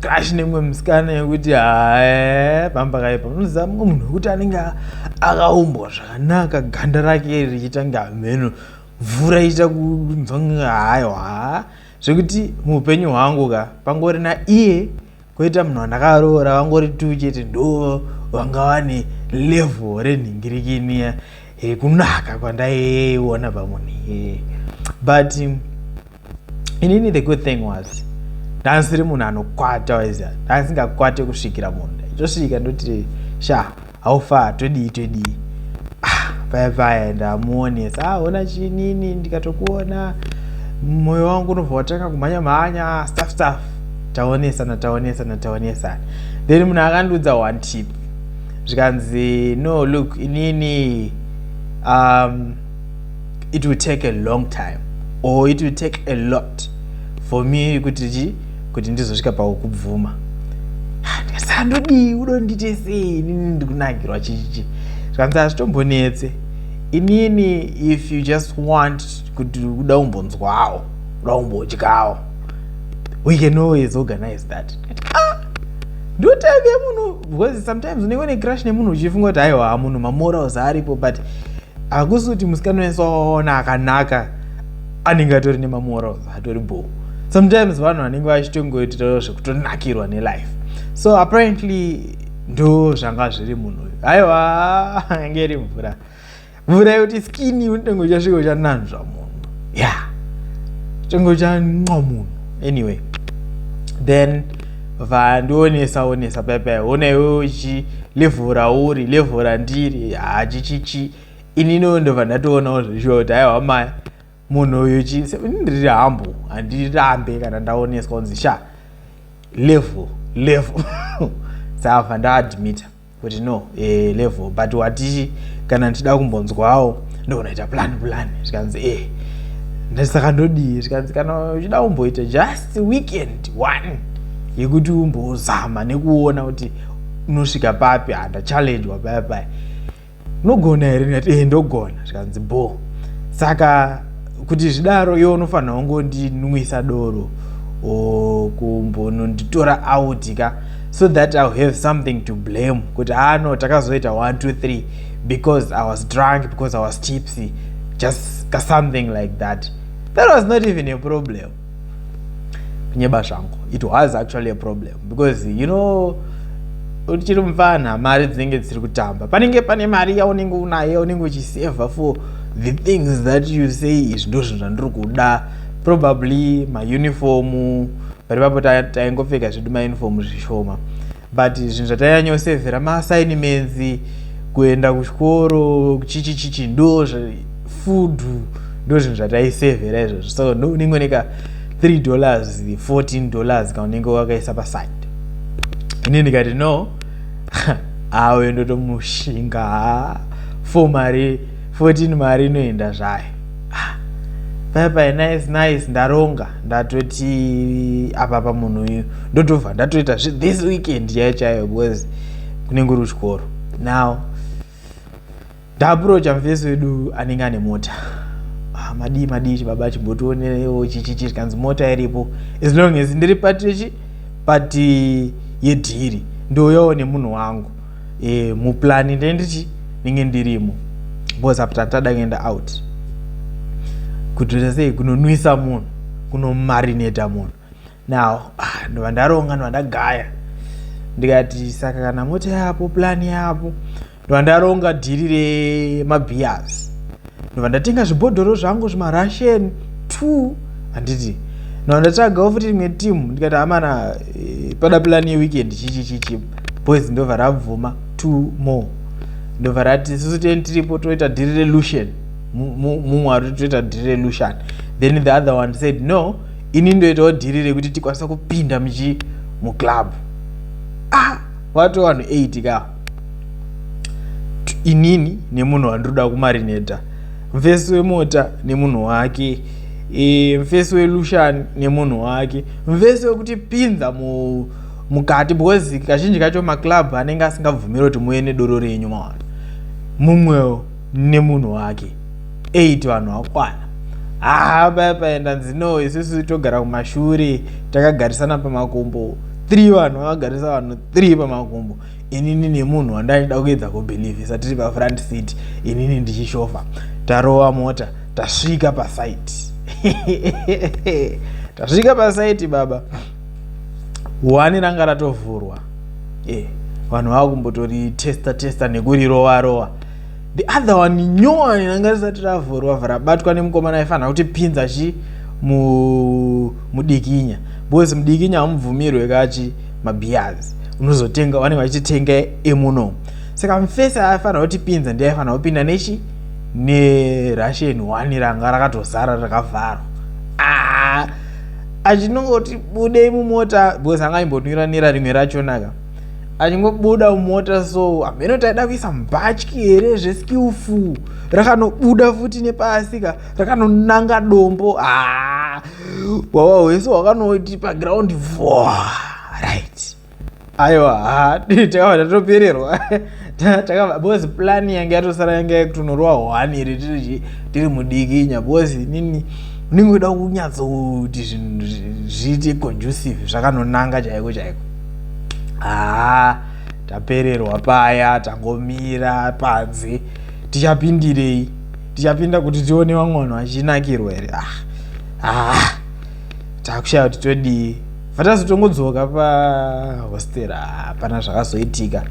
crash nemwe musikana yekuti hae pamba kaipa unoziva mumwe munhu wekuti anenge akaumbwa zvakanaka ganda rake richiita kunge hameno mvura ichiita kunzwa kunge hayo haa zvekuti muupenyu hwangu ka pangori na iye koita munhu wandakaroora vangori tu chete ndo vanga vane level renhingirikiniya yekunaka kwandaiona pamunhu iyeye but inini the good thing was ndansiri munhu anokwata waiziva ndansingakwate kusvikira munhu ndaichosvika ndoti sha haufa todii todii ah, paya paya ndamuonesa ah, ona chinini ndikatokuona moyo wangu unobva watanga kumhanya mhanya staff staff taonesana taonesana taonesana then munhu akandiudza one tip zvikanzi no look inini um, it will take a long time or it will take a lot for me kuti chi kuti ndizosvika pakukubvuma ndikasandodii unondiite sei inini ndikunakirwa chichichi zvikanzi hazvitombonetse inini if you just want kuti kuda umbonzwawo kuda umbodyawo we can always organize that ah! ndotaive munhu because sometimes unenge une crush nemunhu uchifunga kuti haiwa munhu mamorals aripo but hakusi kuti musikana wese wawaona akanaka anenge atori nemamorals atori bho sometimes vanhu vanenge vachitongoitirawo zvekutonakirwa nelife so apparently ndo zvanga zviri munhu uyu aiwa ange iri mvura mvura yekuti skini unotonge uchasvika uchananzva munhu ya yeah. tonge uchanwa munhu anyway then vandionesa onesa pai pai ona iwe uchi level rauri level randiri hachichichi ini no ndobva ndatoonawo zvichiva kuti aiwa maya munhu uyu chi ndiri hambo handirambe kana ndaoneswa kunzi sha level level saka ndaadmita kuti no eh, level but wati kana ndichida kumbonzwawo ndokunoita plan plan zvikanzi eh ndisaka ndodii zvikanzi kana uchida kumboita just weekend one yekuti umbozama nekuona kuti unosvika papi handachallengwa paya paya unogona here ndikati eh ndogona zvikanzi bo saka kuti zvidaro iwe unofanira kungondinwisa doro or kumbononditora out ka so that ill have something to blame kuti haa no takazoita 123 because i was drunk because i was tipsy just ka something like that that was not even a problem kunyeba zvangu it was actually a problem because you know uchiri mupfanha mari dzinenge dzisiri kutamba panenge pane mari yaunenge unaye unenge uchiseva for the things that you say izvi ndo zvinhu zvandiri kuda probably maunifomu pari papo taingopfeka zvedu maunifomu zvishoma but zvinhu zvataiyanyo sevhera masaini menzi kuenda kuchikoro chichi chichi ndo food ndo zvinhu zvataisevhera izvozvo so unenge uneka 3 dollars 14 dollars kana unenge wakaisa paside ini ndikati no awe ndotomushinga fo mari 14 mari inoenda zvayo ah, bye bye nice nice ndaronga ndatoti apa pamunhu uyu ndotobva ndatoita this weekend chaiyo chaiyo because kunenge uri kuchikoro now ndaapurocha mufesi wedu anenge ane mota ah, madii madii chibaba chimbotionerewo chichichi chikanzi mota iripo as long as ndiri patichi pati yedhiri ndouyawo nemunhu wangu eh, muplani ndee ndichi ndinge ndirimo because apa tatada kuenda out kutoita sei kunonwisa munhu kunomarineta munhu now ah, ndova ndaronga ndova ndagaya ndikati saka kana mota yapo plani yapo ndovandaronga dhiri remabhias ndobva ndatenga zvibhodhoro zvangu zvimarushen t handiti ndobva ndatsvagawo futi rimwe timu ndikati hamana eh, pada plan yeweekend chichi chichi boys ndobva rabvuma t more ndobva rati susu teni tiripo toita dhiri relution mumwe ari toita dhiri relution then the other one said no ini ndoitawo dhiri rekuti tikwanisa kupinda muchi muclub ah watowanhu 8 ka inini nemunhu wandinoda kumarineta mfesi wemota nemunhu wake e, mfesi welushani nemunhu wake mfesi wekuti pinza mu mukati because kazhinji kacho maclub anenge asingabvumiri kuti muve nedoro renyu mawana mumwewo nemunhu wake eight vanhu vakwana haa paya paenda nzino isusu togara kumashure takagarisana pamakumbo three vanhu vakagarisa vanhu three pamakumbo inini nemunhu wandaida kuedza kubhilivhisa tiri pafront seat inini ndichishova tarova mota tasvika pasaiti tasvika pasaiti baba wani ranga ratovhurwa e vanhu vava kumbotori testa testa nekurirova rova the other one nyowani ranga risati ravhurwa vhrabatwa nemukomana aifanira kuti pinza chi mudikinya mu because mudikinya hamubvumirwe kachi mabeers unozotenga vanenge vachitenga emuno saka mfesi aifanira kutipinza ndi aifanira kupinda nechi nerussian one ranga rakatozara rakavharwa ah, achinongoti budei mumota because anga imbotungira nera rimwe rachonaka achingobuda mumota so hameno taida kuisa mbatyi here zveskillful rakanobuda futi nepasika rakanonanga dombo ah, wawa wese wakanoti paground vo right aiwa ha takabva tatopererwa takabva bcause plani yange yatosara yange yakutonorwa hwani iri tiri tiri mudikinya bcause nini unenge uda kunyatsokuti zvinhu zviite conducive zvakanonanga chaiko chaiko haa ah, tapererwa paya tangomira panze tichapindirei tichapinda kuti tione vamwe vanhu vachinakirwa here ah, ah. takushaya kuti todii vatazi tongodzoka pahostera hapana zvakazoitika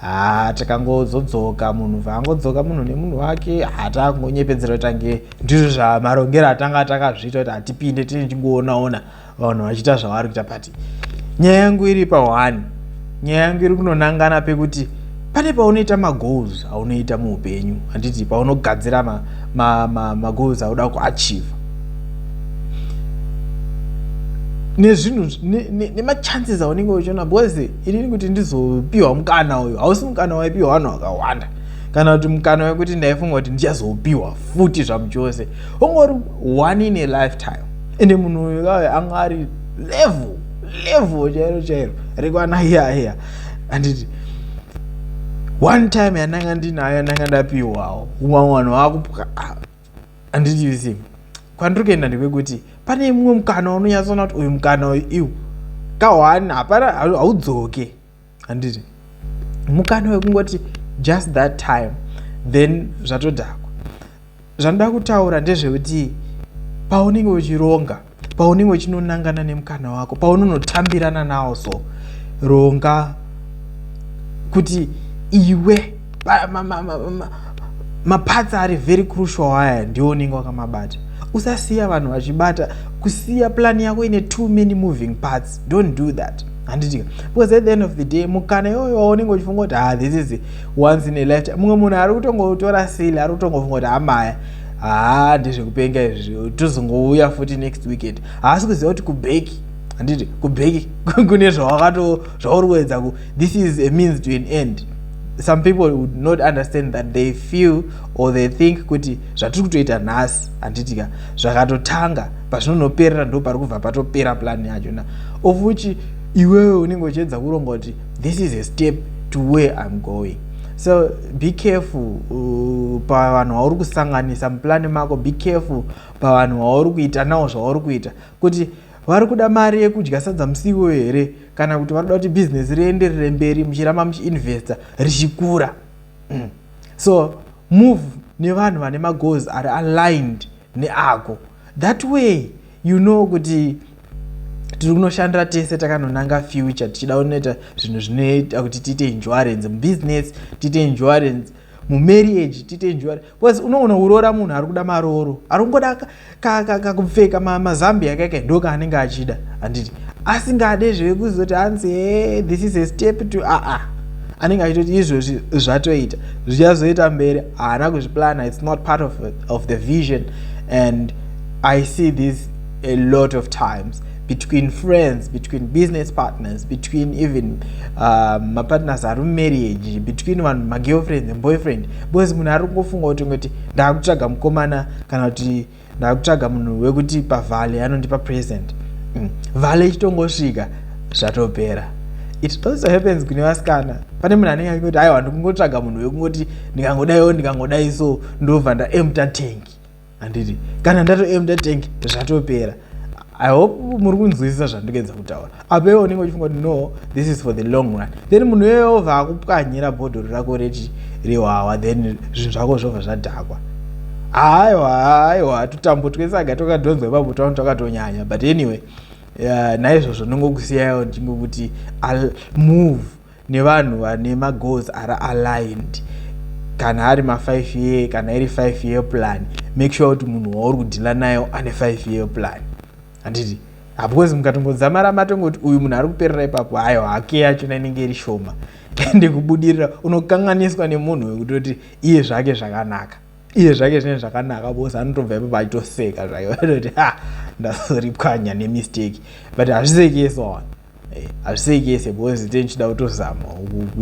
ha ah, takangozodzoka munhu vaangodzoka munhu nemunhu wake hatangonyepedzera ah, tange ndizvo zvamarongero atanga takazviita kuti hatipinde tine tingoonaona vanhu vachiita zvavari kuita but nyaya yangu iri pahwani nyaya yangu iri kunonangana pekuti pane paunoita magoals aunoita muupenyu handiti paunogadzira magoals auda kuachiva nezvinhu nemachances aunenge uchiona because inini kuti ndizopiwa mukana uyu hausi mukana waipiwa vanhu vakawanda kana kuti mukana wekuti ndaifunga kuti ndichazopiwa futi zvamuchose ungori one in a lifetime ende munhu uyu kawe anga ari level level chairo chairo rekwana iya iya handiti one time yandanga ndinayo yandanga ndapiwawo umwe vanhu vakupwa handitivisii kwandiri kuenda ndekwekuti pane mumwe mukana unonyatsoona kuti uyu mukana uyu iwu kahwani hapana haudzoke handiti mukana wekungoti just that time then zvatodhakwa zvanoda kutaura ndezvekuti paunenge uchironga paunenge uchinonangana nemukana wako paunonotambirana nawo so ronga kuti iwe maparts ma, ma, ma, ari very crucial aya ndiwo unenge wakamabata usasiya vanhu vachibata kusiya plan yako ine too many moving parts don't do that handiti because at the end of the day mukana iyoyo waunenge uchifunga kuti ha ah, this is once in a lifetime mumwe munhu ari kutongotora sile ari kutongofunga kuti hamaya ah, haa ah, ndezvekupenga izvi tozongouya futi next weekend haasi kuziva kuti kubeki handiti kubeki kune zvawakato zvauri kuedza this is a means to an end some people would not understand that they feel or they think kuti zvatiri kutoita nhasi handitika zvakatotanga pazvinonoperera ndo pari kubva patopera plan yacho na of which iwewe unenge uchiedza kuronga kuti this is a step to where im going so be careful uh, pavanhu vauri kusanganisa muplani mako be careful pavanhu vauri kuita nawo zvauri kuita kuti Vari kuda mari yekudya sadza musi iwoyo here kana kuti vanoda kuti bhizinesi rienderere mberi muchiramba muchiinvesta richikura? Mm. So move nevanhu vane magoals ari aligned neako. That way you know kuti tiri kunoshandira tese takanonanga future tichida kunoita zvinhu zvinoita kuti tiite insurance mubhizinesi tiite insurance mumarriage tiite insurance bcause unoona uroora munhu ari kuda marooro ari kungoda kakupfeka mazambi yakaika ndo kaanenge achida handiti asingade zvekuzoti hanzi he this is a step to aa ah, ah. anenge achitoti izvozvi zvatoita zvichazoita mberi haana kuzviplana its not part of, of the vision and i see this a lot of times between friends between business partners between even uh, mapartners ari mumarriage between vanhu magirlfriend and boyfriend because munhu ari kungofunga kuti ngoti ndaakutsvaga mukomana kana kuti ndaakutsvaga munhu wekuti pavale anondipa present mm. vale ichitongosvika zvatopera it also happens kune vasikana pane munhu anenge akingoti aiwa ndikungotsvaga munhu wekunoti ndingangodaiwo ndingangodai so ndobva ndaemta tanki handiti kana ndatoemda tank zvatopera i hope muri kunzwisisa zvandikuedza kutaura apo iwe unenge uchifunga kuti no this is for the long run then munhu iyoyo ovha akupwanyira bhodhoro rako reti rehwawa then zvinhu zvako zvobva zvadhakwa aiwa aiwa tutambo twese aga twakadhonzwa ipapo tano twakatonyanya but anyway uh, naizvozvo ndongokusiyayo ndingokuti i'll move nevanhu vane magoals ari aligned kana ari ma5 year kana iri 5 year plan make sure kuti munhu wauri kudhila nayo ane 5 year plan handiti because mukatongodzamara matongoti uyu munhu ari kuperera ipapo hayo hake yachona inenge iri shoma ende kubudirira unokanganiswa nemunhu wekutoti iye zvake zvakanaka iye zvake zvinenge zvakanaka bcause anotobva ipapo achitoseka zvake vatoti ha ndazoripwanya nemistake but hazvisekese wana eh, hazvisekese bcause tenichida kutozama